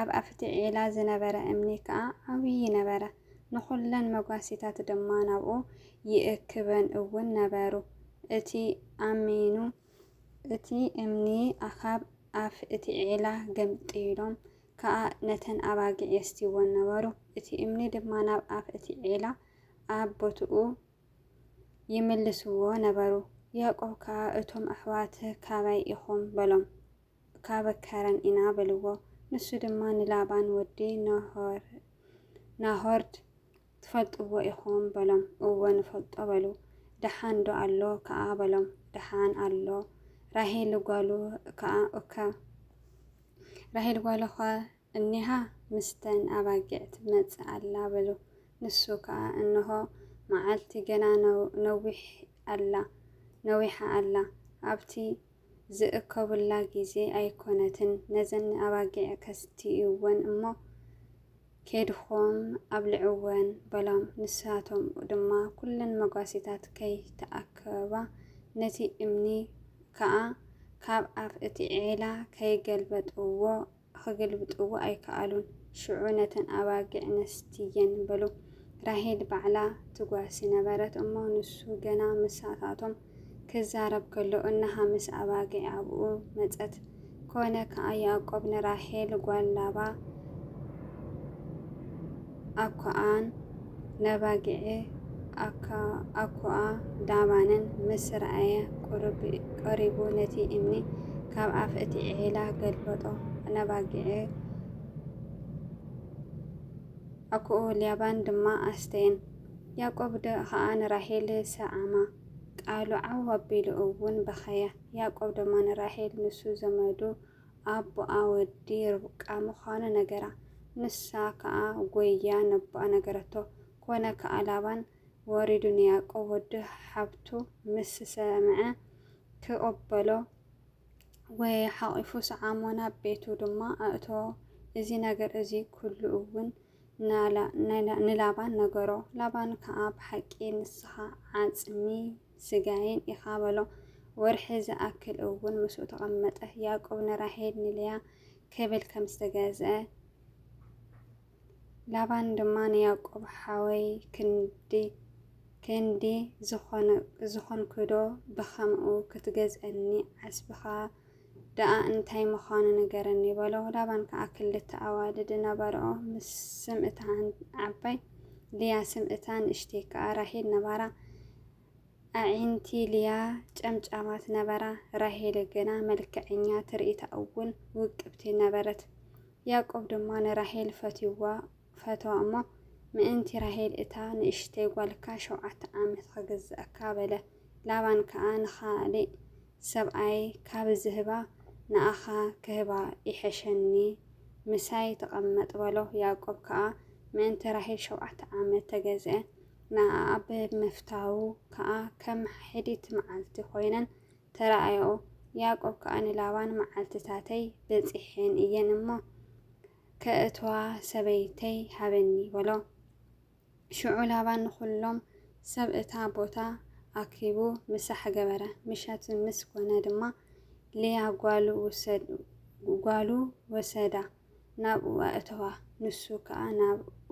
ኣብ ኣፍቲ ዒላ ዝነበረ እምኒ ከኣ ዓብዪ ነበረ፣ ንዅለን መጓሲታት ድማ ናብኡ ይእክበን እውን ነበሩ። እቲ ኣሚኑ እቲ እምኒ ኣኻብ ኣፍ እቲ ዒላ ገምጢሎም ከኣ ነተን ኣባጊዕ የስትይወን ነበሩ፣ እቲ እምኒ ድማ ናብ ኣፍ እቲ ዒላ ኣብ ቦትኡ ይምልስዎ ነበሩ። ያእቆብ ከኣ እቶም ኣሕዋት ካበይ ኢኹም? በሎም። እካበ ከረን ኢና በልዎ። ንሱ ድማ ንላባን ወዲ ናሆርናሆርድ ትፈልጥዎ ኢኹም በሎም። እወ ንፈልጦ በሉ። ደሓንዶ ኣሎ ከኣ በሎም። ደሓን ኣሎ። ራሄልጓሉ ከኣ እከ ራሄልጓሉኸ እኒሃ ምስተን ኣባጊዕ ትመጽእ ኣላ በሉ። ንሱ ከኣ እንሆ መዓልቲ ገና ነዊሕ ኣላ ነዊሓ ኣላ ኣብቲ ዝእከቡላ ግዜ ኣይኮነትን ነዘን ኣባጊዕ ከስትይወን እሞ ኬድኩም ኣብልዕወን በሎም። ንሳቶም ድማ ኩለን መጓሲታት ከይተኣከባ ነቲ እምኒ ከኣ ካብ ኣፍ እቲ ዔላ ከይገልበጥዎ ኺግልብጥዎ ኣይከኣሉን። ሽዑ ነተን ኣባጊዕ ነስትየን በሉ። ራሄል ባዕላ ትጓሲ ነበረት እሞ፣ ንሱ ገና ምሳታቶም ኪዛረብ ከሎ፣ እንሃ ምስ ኣባጊዕ ኣብኡ መጸት። ኰነ ከኣ ያእቆብ ንራሄል ጓል ላባ፣ ኣኮኣን ነባጊዕ ኣኮኣ ዳባነን ምስ ረኣየ ቀሪቡ ነቲ እምኒ ካብ ኣፍ እቲ ዒላ ገልበጦ። ነባጊዕ ኣኮኡ ሊያባን ድማ ኣስተየን። ያቆብ ከኣ ንራሄል ሰዓማ፣ ቃሉ ዓው ኣቢሉ እውን በኸየ። ያቆብ ድማ ንራሄል ንሱ ዘመዱ፣ ኣቦኣ ወዲ ርብቃ ምዃኑ ነገራ። ንሳ ከኣ ጐይያ ነቦኣ ነገረቶ። ኰነ ከኣ ላባን ወሪዱ ንያእቆብ ወዱ ሓብቱ ምስ ሰምዐ፣ ክቕበሎ ጐየየ፣ ሓቚፉ ሰዓሞ፣ ናብ ቤቱ ድማ ኣእተዎ፣ እዚ ነገር እዚ ኵሉ እውን ንላባን ነገሮ። ላባን ከኣ ብሓቂ ንስኻ ዓጽሚ ስጋየን ኢኻ በሎ። ወርሒ ዝኣክል እውን ምስኡ ተቐመጠ። ያእቆብ ንራሄል ንልያ ክብል ከም ዝተገዝአ ላባን ድማ ንያእቆብ ሓወይ ክንዲ ክንዲ ዝኾንክዶ ብኸምኡ ክትገዝአኒ ዓስብኻ ደኣ እንታይ ምዃኑ ንገረኒ፣ በሎ። ላባን ከኣ ክልተ ኣዋልድ ነበርኦ፣ ምስ ስም እታ ዓባይ ልያ፣ ስም እታ ንእሽተይ ከኣ ራሄል ነበራ። ኣዒንቲ ልያ ጨምጫማት ነበራ፣ ራሄል ግና መልክዐኛ፣ ትርኢታ እውን ውቅብቲ ነበረት። ያእቆብ ድማ ንራሄል ፈትዩዋ ፈተዋ እሞ፣ ምእንቲ ራሄል እታ ንእሽተይ ጓልካ ሸውዓተ ዓመት ኽግዝኣካ፣ በለ። ላባን ከኣ ንኻልእ ሰብኣይ ካብ ዝህባ ንኣኻ ክህባ ይሐሸኒ፣ ምሳይ ተቐመጥ በሎ። ያእቆብ ከኣ ምእንቲ ራሄል ሸውዓተ ዓመት ተገዝኤ፣ ንኣኣ ብምፍታዉ ከኣ ከም ኅዲት መዓልቲ ኮይነን ተራኣያኦ። ያእቆብ ከኣ ንላባን መዓልትታተይ በጺሔን እየን እሞ፣ ከእትዋ ሰበይተይ ሃበኒ በሎ። ሽዑ ላባ ንዅሎም ሰብ እታ ቦታ ኣኪቡ ምሳሕ ገበረ። ምሸት ምስ ኰነ ድማ፣ ልያ ጓሉ ወሰዳ፣ ናብኡ ኣእተዋ፣ ንሱ ኸኣ ናብኡ፣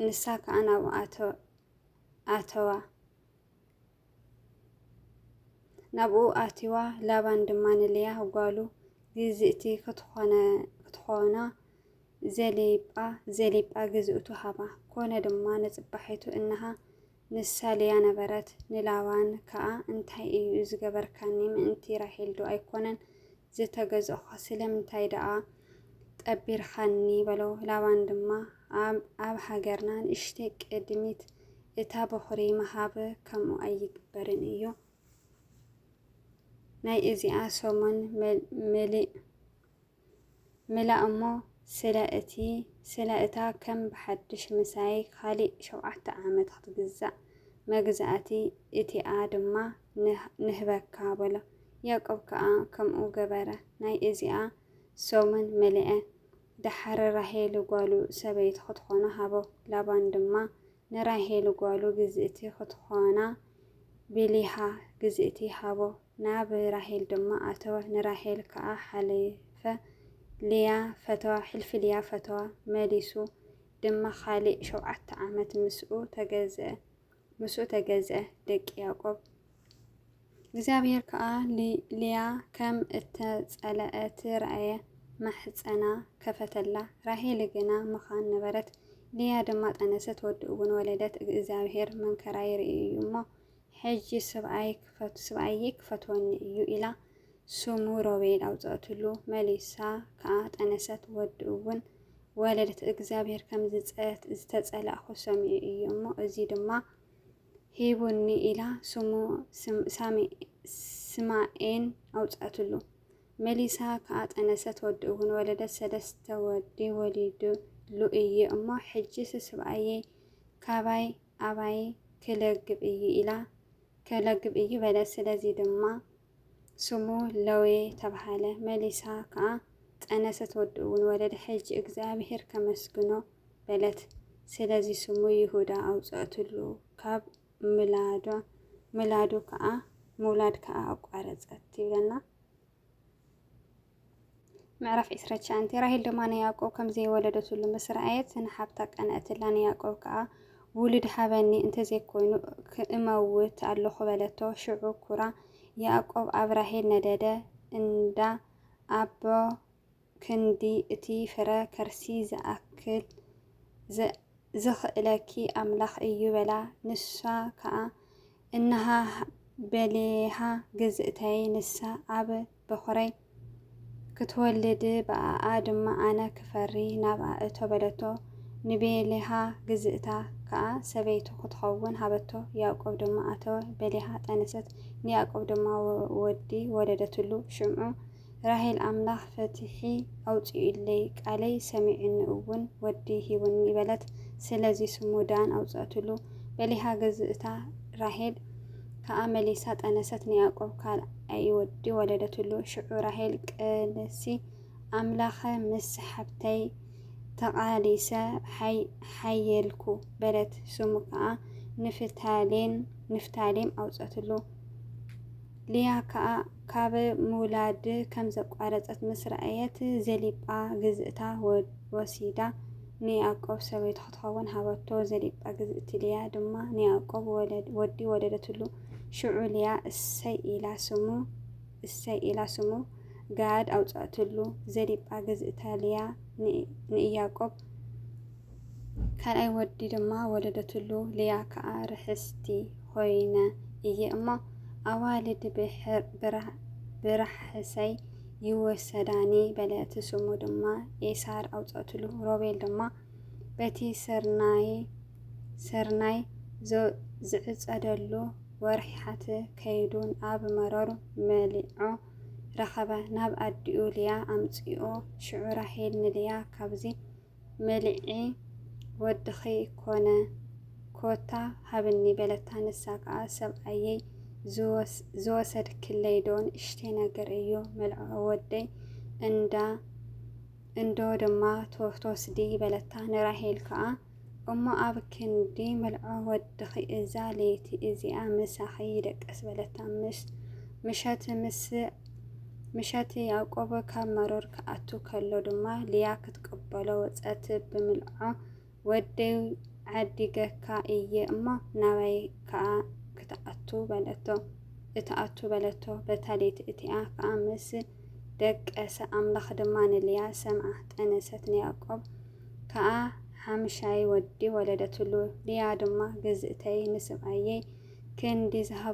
ንሳ ኸኣ ናብኡ ኣተዋ። ናብኡ ኣትዩዋ፣ ላባን ድማ ንልያ ጓሉ ግዝእቲ ክትኾና ዘሊጳ ዘሊጳ ግዝእቱ ሃባ። ኮነ ድማ ንጽባሒቱ እንሃ ንሳ ልያ ነበረት። ንላባን ከኣ እንታይ እዩ ዝገበርካኒ ምእንቲ ራሄልዶ ኣይኮነን ዝተገዛእኩኻ ስለምንታይ ደኣ ጠቢርካኒ? በሎ። ላባን ድማ፣ ኣብ ሃገርና ንእሽተይ ቅድሚት እታ በዅሪ ምሃብ ከምኡ ኣይግበርን እዩ፣ ናይ እዚኣ ሰሙን መሊእ ሜላ እሞ ስለ እቲ ስለ እታ ከም ብሓድሽ ምሳይ ኻሊእ ሸውዓተ ዓመት ኽትግዛእ መግዛእቲ እቲኣ ድማ ንህበካ በሎ። ያእቆብ ከኣ ከምኡ ገበረ። ናይ እዚኣ ሰሙን መለኣ። ደሓር ራሄል ጓሉ ሰበይቲ ኽትኾኖ ሃቦ። ላባን ድማ ንራሄል ጓሉ ግዝእቲ ኽትኾና ቢልሃ ግዝእቲ ሃቦ። ናብ ራሄል ድማ ኣተወ፣ ንራሄል ከኣ ሓለፈ ሊያ ፈተዋ፣ ሕልፊ ሊያ ፈተዋ፣ መሊሱ ድማ ኻሊእ ሸውዓተ ዓመት ምስኡ ተገዝአ፣ ምስኡ ተገዝአ፣ ደቂ ያዕቆብ። እግዚኣብሄር ከኣ ሊያ ከም እተጸለኣት ረኣየ፣ ማሕጸና ከፈተላ፣ ራሄል ግና መኻን ነበረት፣ ሊያ ድማ ጠነሰት፣ ወዲ'ውን ወለደት፣ እግዚኣብሄር መንከራይ ርእዩ እዩ እሞ፣ ሕጂ ስብኣይ ክፈት ስብኣየይ ክፈትወኒ እዩ ኢላ ስሙ ሮቤል ኣውጸእትሉ መሊሳ ከኣ ጠነሰት ወዲ እውን ወለደት እግዚኣብሔር ከም ዝተጸላእኩ ሰሚዑ እዩ እሞ እዚ ድማ ሂቡኒ ኢላ ስሙ ስማኤን ኣውጸእትሉ መሊሳ ከኣ ጠነሰት ወዲ እውን ወለደት ሰለስተ ወዲ ወሊድሉ እዩ እሞ ሕጂስ ስብኣየይ ካባይ ኣባይ ክለግብ እዩ ኢላ ከለግብ እዩ በለት። ስለዚ ድማ ስሙ ለዌ ተብሃለ። መሊሳ ከኣ ጠነሰት ወዲ'ውን ወለደ። ሕጂ እግዚኣብሄር ከመስግኖ በለት። ስለዚ ስሙ ይሁዳ ኣውጸእትሉ። ካብ ምላዶ ምላዱ ከኣ ምውላድ ከኣ ኣቋረጸት ይብለና። ምዕራፍ ዕስራ ትሽዓንተ ራሄል ድማ ንያዕቆብ ከም ዘይወለደትሉ ምስ ረኣየት ንሓብታ ቀንኣትላ፣ ንያዕቆብ ከኣ ውሉድ ሃበኒ እንተ ዘይኮይኑ ክእመውት ኣሎኹ በለቶ። ሽዑ ኩራ ያዕቆብ ኣብ ራሄል ነደደ፣ እንዳ ኣቦ ክንዲ እቲ ፍረ ከርሲ ዝኣክል ዝኽእለኪ ኣምላኽ እዩ በላ። ንሳ ከኣ እንሃ በሌሃ ግዝእተይ ንሳ ኣብ በዅረይ ክትወልድ ብኣኣ ድማ ኣነ ክፈሪ ናብኣ እቶ በለቶ። ንቤልሃ ግዝእታ ከኣ ሰበይቱ ክትኸውን ሃበቶ። ያእቆብ ድማ ኣተወ፣ ቤልሃ ጠነሰት፣ ንያእቆብ ድማ ወዲ ወለደትሉ። ሽምዑ ራሄል ኣምላኽ ፍትሒ ኣውጺኡለይ፣ ቃለይ ሰሚዑኒ እውን ወዲ ሂቡኒ በለት። ስለዚ ስሙ ዳን ኣውጸእትሉ። ቤልሃ ግዝእታ ራሄል ከኣ መሊሳ ጠነሰት ንያእቆብ ካልኣይ ወዲ ወለደትሉ። ሽዑ ራሄል ቅልሲ ኣምላኸ ምስ ሓብተይ ተቓሊሰ ሓየልኩ በለት። ስሙ ከኣ ንፍታሌም ኣውጸትሉ። ልያ ከኣ ካብ ምውላድ ከም ዘቋረጸት ምስ ረኣየት ዘሊጳ ግዝእታ ወሲዳ። ንያእቆብ ሰበይቱ ክትኸውን ሃበቶ፣ ዘሊጳ ግዝእቲ ልያ ድማ ንያእቆብ ወዲ ወለደትሉ። ሽዑ ልያ እሰይ ኢላ ስሙ እሰይ ኢላ ስሙ ጋድ ኣውጽኣትሉ። ዘሊጳ ግዝእታ ልያ ንእያቆብ ካልኣይ ወዲ ድማ ወለደትሉ። ልያ ከኣ ርሕስቲ ኾይነ እየ እሞ ኣዋልድ ብራሕሰይ ይወሰዳኒ በለ። እቲ ስሙ ድማ ኤሳር ኣውጸእትሉ። ሮቤል ድማ በቲ ሰርናይ ዝዕጸደሉ ወርሒሓት ከይዱ ኣብ መሮር መሊዖ ረኸበ። ናብ ኣዲኡ ልያ ኣምጽኦ። ሽዑ ራሄል ንልያ ካብዚ መልዒ ወድኺ ኮነ ኮታ ሃብኒ በለታ። ንሳ ከኣ ሰብኣየይ ዝወሰድክለይ ዶ ንእሽተይ ነገር እዩ መልዕዖ ወደይ እንዳ እንዶ ድማ ትወስዲ በለታ። ንራሄል ከኣ እሞ ኣብ ክንዲ መልዖ ወድኺ እዛ ለይቲ እዚኣ ምሳኺ ይደቀስ በለታ። ምሸት ምስ ምሸት ያዕቆብ ካብ መሮር ክኣቱ ከሎ ድማ ልያ ክትቅበሎ ወጸት ብምልዖ ወደይ ዓዲገካ እየ እሞ ናባይ ከኣ ክትኣቱ በለቶ እትኣቱ በለቶ በታ ለይቲ እቲኣ ከኣ ምስ ደቀሰ ኣምላኽ ድማ ንልያ ሰምዓ ጠነሰት ንያዕቆብ ከኣ ሓምሻይ ወዲ ወለደትሉ ልያ ድማ ግዝእተይ ንስብኣየይ ክንዲ ዝሃብ